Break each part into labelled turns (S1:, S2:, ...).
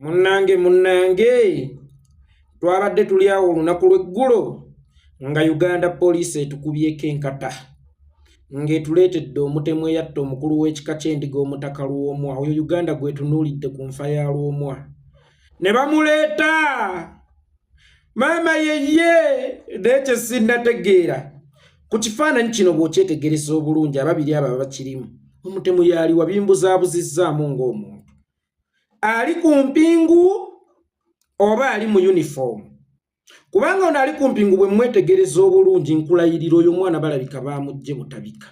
S1: munnange munnange twabadde tuli awo olunaku lw'eggulo nga uganda poliisi etukubyeko enkata ng'etuleetedde omutemu eyatta omukulu w'ekika ky'endiga omutaka lwomwa oyo uganda gwetunuulidde ku nfa ya lwomwa ne bamuleeta maama yeye naye kyesinnategeera ku kifaananyi kino bw'okyetegereza obulungi ababiri abo abakirimu omutemu yaali wabimbuzaabuzizaamu ng'omuntu ali ku mpingu oba ali mu uniform kubanga ono ali ku mpingu bwe mwetegereza obulungi nkulayirira oyo omwana balabika bamujje butabika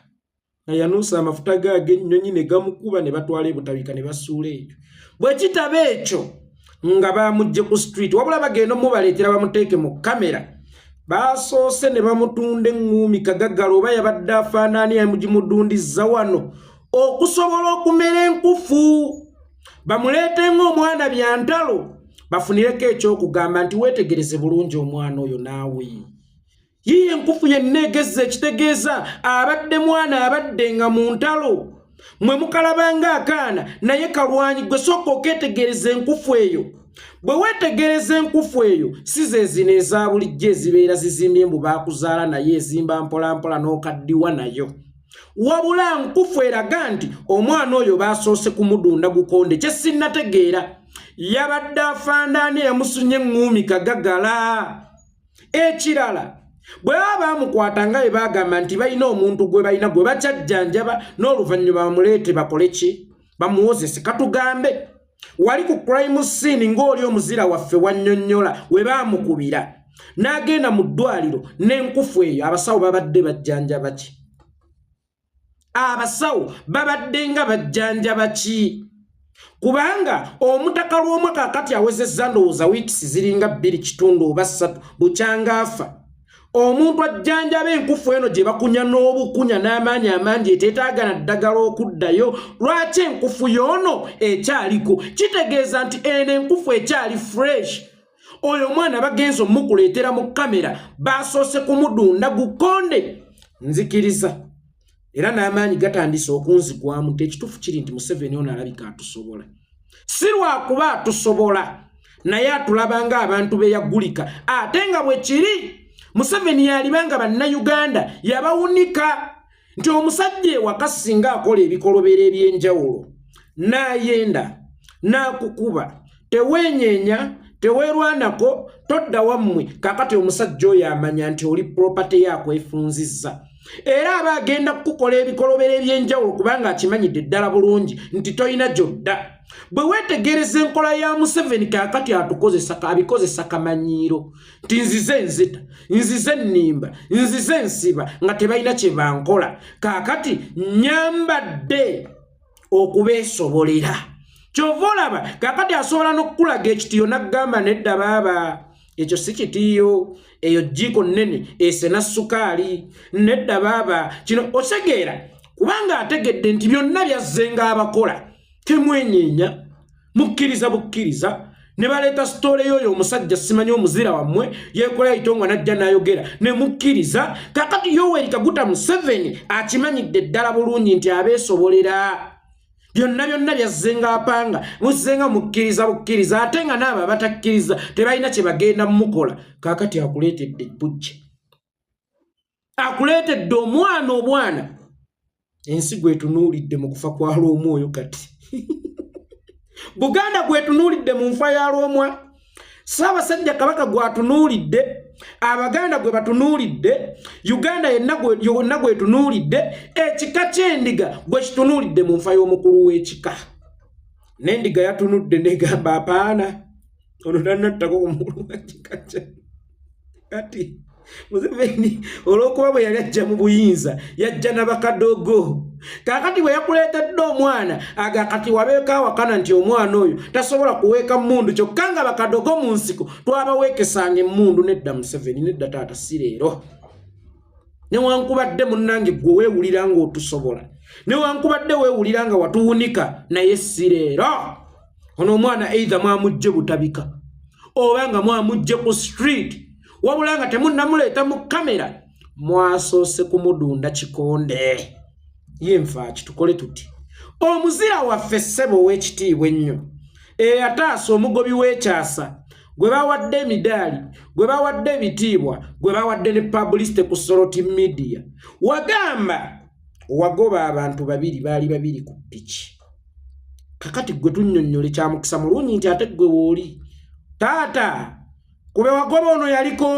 S1: nayanuusa amafuta ge ag'ennyonyi ne gamukuba ne batwala ebutabika ne basuula ekyo bwe kitaba ekyo nga bamujje ku street wabula bagenda omubaleetera bamuteeke mu kamera baasoose ne bamutunda eŋŋuumi kagaggala oba yabadde afaanaani yamugimudundizza wano okusobola okumera enkufu bamuleete ng'omwana byantalo bafunireko ekyokugamba nti weetegereze bulungi omwana oyo naawe yiye enkufu yenna egezza ekitegeeza abadde mwana abadde nga mu ntalo mwe mukalabanga akaana naye kalwanyi gwe sooka okeetegereza enkufu eyo bwe weetegereza enkufu eyo si ze zino eza bulijjo ezibeera zizimbye mbu baakuzaala naye ezimba mpolampola n'okaddiwa nayo wabula nkufu eraga nti omwana oyo baasoose kumudunda gukonde kye sinnategeera yabadde afandaani eyamusunye eŋŋuumi kagagala ekirala bwe baba baamukwata nga bwe baagamba nti balina omuntu gwe balina gwe bakyajjanjaba n'oluvannyuma bamuleete bakole ki bamuwozese katugambe wali ku crime scene ng'oli omuzira waffe wannyonnyola we baamukubira n'agenda mu ddwaliro n'enkufu eyo abasawo babadde bajjanjaba ki abasawo babadde nga bajjanjaba ki kubanga omutaka lw'omwaka akati awezezza ndowooza wiikisi ziringa bbiri kitundu oba ssatu bukyangaafa omuntu ajjanjaba enkufu eno gye bakunya n'obukunya n'amaanyi amangi eteetaagana ddagala okuddayo lwaki enkufu yoono ekyaliko kitegeeza nti eno enkufu ekyali fresh oyo omwana bagenza omukuleetera mu kamera baasoose kumudunda gukonde nzikiriza era n'amaanyi gatandise okunzigwamu nti ekituufu kiri nti museveni ono alabika atusobola si lwakuba atusobola naye atulaba nga abantu be yagulika ate nga bwe kiri museveni yaliba nga bannayuganda yabawunika nti omusajja ewaka singa akola ebikolobero eby'enjawulo n'ayenda n'akukuba teweenyeenya teweerwanako todda wammwe kakati omusajja oyo amanya nti oli puropate yakwefunzizza era aba agenda kukukola ebikolobero eby'enjawulo kubanga akimanyidde ddala bulungi nti tolina gyodda bwe weetegereza enkola ya museveni kakati atukozesa abikozesa kamanyiiro nti nzize nzita nzize nnimba nzize nsiba nga tebalina kye bankola kakati nyambadde okubeesobolera kyova olaba kakati asobola n'okukulaga ekitiyo n'akugamba nedda baaba ekyo si kitiyo eyo jjiiko nnene esena sukaali nedda baaba kino otegeera kubanga ategedde nti byonna byazzenga abakola temwenyeenya mukkiriza bukkiriza ne baleeta sitoole yoyo omusajja simanyi omuzira wammwe yekola itongwa najja nayogera ne mukkiriza kakati yoweri kaguta museveni akimanyidde ddala bulungi nti abeesobolera byonna byonna byazzenga apanga muzzenga mukkiriza bukkiriza ate nga naabo abatakkiriza tebalina kye bagenda mukola kakati akuleetedde bujja akuleetedde omwana obwana ensi gwetunuulidde mu kufa kwa lw'omwoyo kati buganda gwetunuulidde mu nfa ya lw'omwa ssaabasajja kabaka gwatunuulidde abaganda gwe batunuulidde uganda yonna gwetunuulidde ekika ky'endiga gwe kitunuulidde mu nfa y'omukulu w'ekika n'endiga yatunudde negamba apaana ono tanattako ku mukulu wa kika kya kati museveni olwokuba bwe yali ajja mu buyinza yajja na bakadogo kakati bwe yakuleetedde omwana aga kati wabeeko awakana nti omwana oyo tasobola kuweeka mundu kyokka nga bakadogo mu nsiko twabaweekesanga emundu nedda museveni nedda taata si leero newankubadde munnange gwe weewulira nga otusobola newankubadde weewulira nga watuwunika naye sireero ono omwana eitha mwamujje butabika oba nga mwamujje ku street wabula nga temunnamuleeta mu kamera mwasoose kumudunda kikonde ye nfaaki tukole tuti omuzira waffe ssebo ow'ekitiibwa ennyo eyataasa omugobi w'ekyasa gwe bawadde emidaali gwe bawadde ebitiibwa gwe bawadde ne publicity ku soroti media wagamba wagoba abantu babiri baali babiri ku piki kakati gwe tunyonnyole kyamukisa mulungi nti ate gwe wooli taata kube wagoba ono yaliko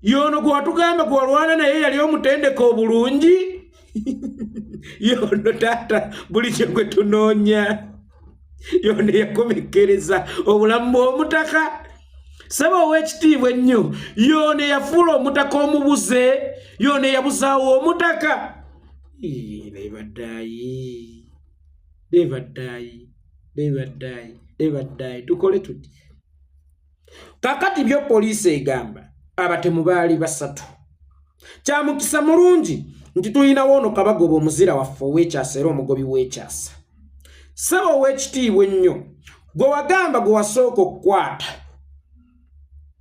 S1: yono gwatugamba gwalwana naye yali omutendeka obulungi yono taata buli kyegwe tunoonya yono yakomekkereza obulamu bw'omutaka saba ow'ekitiibwa ennyo yono yafuula omutaka omubuze yono yabuzaawo omutaka naye baddayi Never die. Never die. Never die. Tukole tuti. kakati byo poliisi egamba abatemu baali basatu kyamukisa mulungi nti tulinawo ono kabagoba omuzira waffe ow'ekyasa era omugobi w'ekyasa saba ow'ekitiibwa ennyo gwe wagamba gwe wasooka okukwata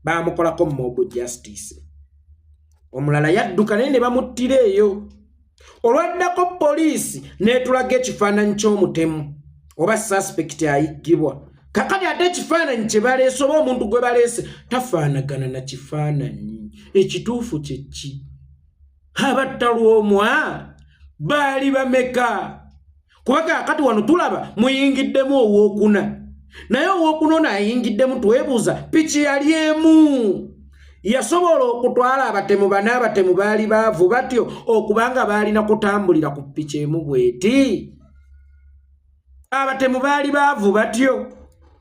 S1: baamukolako mob justice omulala yadduka naye ne bamuttira eyo olwaddako poliisi n'etulaga ekifaananyi ky'omutemu oba saspekiti ayiggibwa kakati ate ekifaananyi kye baleese oba omuntu gwe baleese tafaanagana na kifaananyi ekituufu kye ki abattalwa omwa baali bameka kuba kakati wano tulaba muyingiddemu owokuna naye owokuna ono ayingiddemu twebuuza piki yali emu yasobola okutwala abatemu bana abatemu baali baavu batyo okubanga baalina kutambulira ku piki emu bweti abatemu baali baavu batyo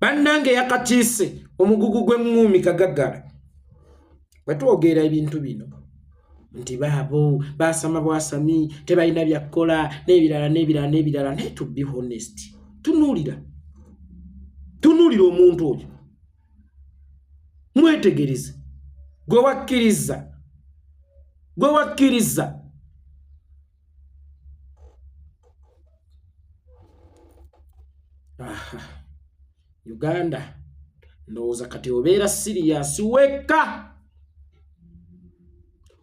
S1: bannange yakatiise omugugu gw'eŋŋuumi kagaggala bwe twogera ebintu bino nti baabo baasama bwasami tebalina byakkola n'ebirala n'ebirala n'ebirala naye to be honest tunuulira tunuulira omuntu oyo mwetegereze gwe wakkiriza gwe wakkiriza uganda ndowooza kati obeera siriyasi wekka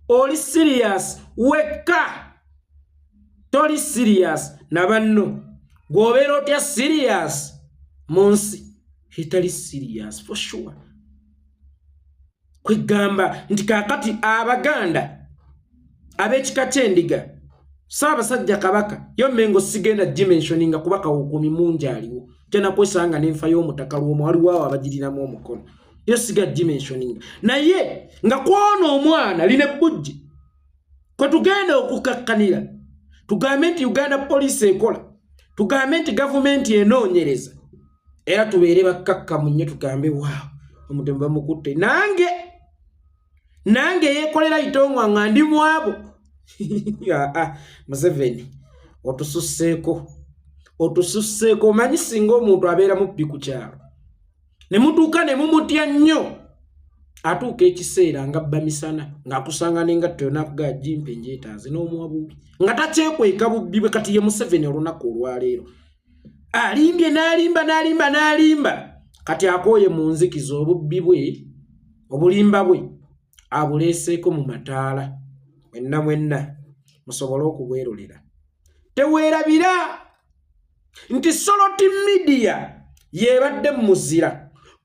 S1: oli siriyasi wekka toli siriyasi na banno gwobeera otya siriyasi mu nsi etali siriyasi for sure kwegamba nti kakati abaganda ab'ekika ky'endiga saabasajja kabaka yo mengo sigenda dimensioninga kuba kawukumi mungi aliwo tena kwesanga n'enfa y'omutaka lwomu waliwo awo abagirinamu omukono yo siga dimensioninga naye nga kwona omwana line bujji kwe tugenda okukakkanira tugambe nti uganda poliisi ekola tugambe nti gavumenti enoonyereza era tubeere bakkakkamu nnyo tugambe waawo omutemu bamukutte nange nange yeekolera itongwa nga ndi mwabo ah, ah, museveni otususseeko otususseeko omanyi singa omuntu abeera mubbi ku kyalo ne mutuuka ne mumutya nnyo atuuka ekiseera nga bba misana ng'akusanga nengatto yonakuga jimpe njetaaze n'omuwa bubi nga takyekweka bubbi bwe kati ye museveni olunaku olwaleero alimbye n'alimba n'alimba n'alimba kati akooye mu nzikiza obubbi bwe obulimba bwe abuleeseeko mu mataala mwenna mwenna musobole okubwerulira teweerabira nti soloti midiya yeebadde mu muzira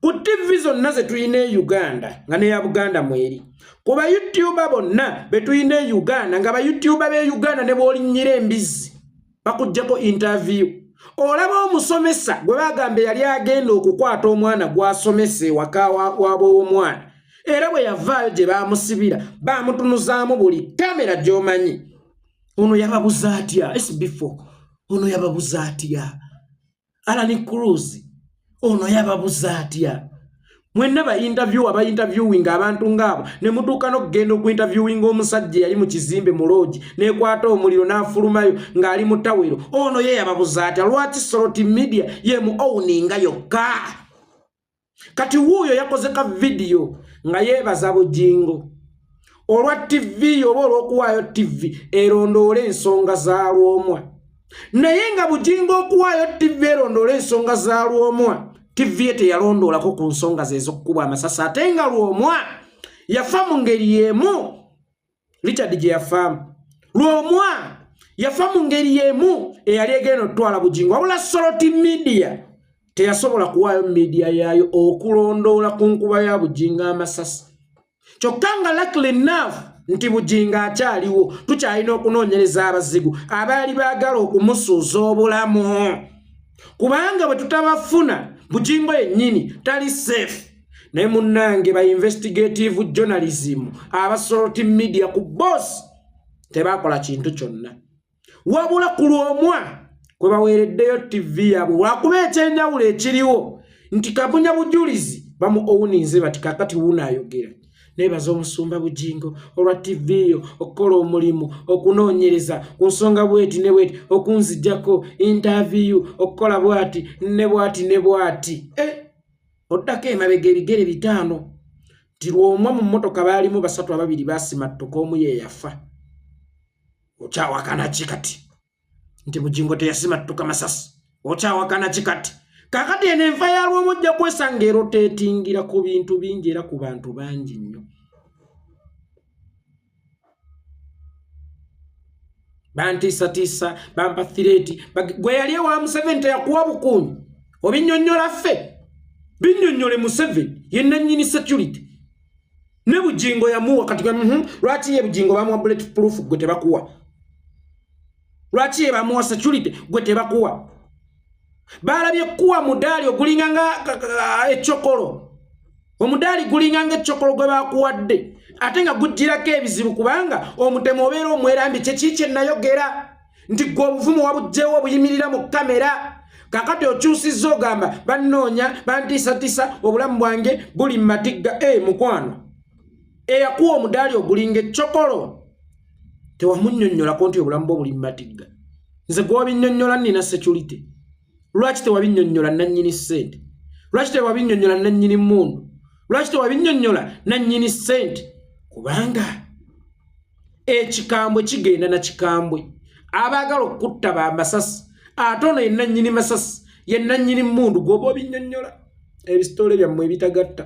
S1: ku ttivi zonna ze tulina e uganda nga neya buganda mweri ku bayutuba bonna be tulina e uganda nga bayutuba b'e uganda ne bw'olinnyira embizzi bakugyeko interview olaba omusomesa gwe bagamba yali agenda okukwata omwana gwasomesa ewaka waba omwana era bwe yavaayo gye bamusibira bamutunuzaamu buli kamera gyomanyi ono yababuza atya sbfo ono yababuza atya alani cruz ono yababuza atya mwenna bainterviewa bainterviewinga abantu ngaabo ne mutuuka n'okugenda okuinterviewinga omusajja eyali mu kizimbe mu loogi n'ekwata omuliro n'afulumayo ng'ali mu tawero ono ye yababuza atya lwaki soloti media ye mu owuninga yokka kati wuuyo yakoze ka vidiyo nga yeebaza bujingo olwa tivi oba olw'okuwaayo tivi erondoole ensonga za lwomwa naye nga bujingo okuwaayo tivi erondoole ensonga za lwomwa tivi ye teyalondoolako ku nsonga zeez'okukuba amasasi ate nga lwomwa yafa mu ngeri y'emu richard gye yafaamu lwomwa yafa mu ngeri y'emu eyali egenda okutwala bugingo wabula soloti midiya teyasobola kuwaayo midiya yaayo okulondoola ku nkuba ya bugingo amasasi kyokka nga lakle naavu nti bugingo akyaliwo tukyalina okunoonyereza abazigu abaali baagala okumusuuza obulamu kubanga bwe tutabafuna bugingo yennyini tali seefu naye munnange ba investigative journalism abasoroti media ku boss tebakola kintu kyonna wabula ku lwomwa kwe baweereddeyo ttivi yaabwe wakuba ekyenjawulo ekiriwo nti kabunya bujulizi bamu owuninze bati kakati wuuno ayogera nebaza omusumba bujingo olwa ttivi eyo okukola omulimu okunoonyereza ku nsonga bweti ne bweti okunzijjako intaviyu okukola bwati ne bwati ne bwati eh! oddako emabega ebigere bitaano nti lwomwa mu mmotoka baalimu basatu ababiri basimattuka omu ye yafa okyawakana ki kati nti bugingo teyasimattuka masasi okyawakana ki kati kakati eno enfa yalwomu ojja kwesanga eroteetingira ku bintu bingi era ku bantu bangi nnyo bantiisatiisa bampa thireeti gwe yali ewa museveni teyakuwa bukuumi obinyonyola ffe binyonyole museveni yenanyini security ne bugingo yamuwa kati gwe mhm, lwaki ye bugingo bamuwa bullet proof gwe tebakuwa lwaki ye bamuwa security gwe tebakuwa baalabye kuwa mudaali ogulinga nga ekyokolo omudaali gulinga nga ekyokolo gwe bakuwadde ate nga gujjirako ebizibu kubanga omutemu obeera omwerambi kyekii kye nayogera nti gwe obuvumu wabugjewo obuyimirira mu kamera kakati okyusizza ogamba bannoonya bantiisatiisa obulamu bwange buli mu matigga e mukwano eyakuwa omudaali ogulinga ekyokolo tewamunnyonnyolako nti obulamu bwo buli mu matigga nze gwobinnyonnyola nnina security lwaki tewabinyonyola nanyini sente lwaki tewabinyonyola nanyini mundu lwaki tewabinyonyola nanyini sente kubanga ekikambwe kigenda na kikambwe abaagala okutta ba masasi ate ono yenanyini masasi yenanyini mundu gwoba obinyonyola ebisitole byammwe ebitagatta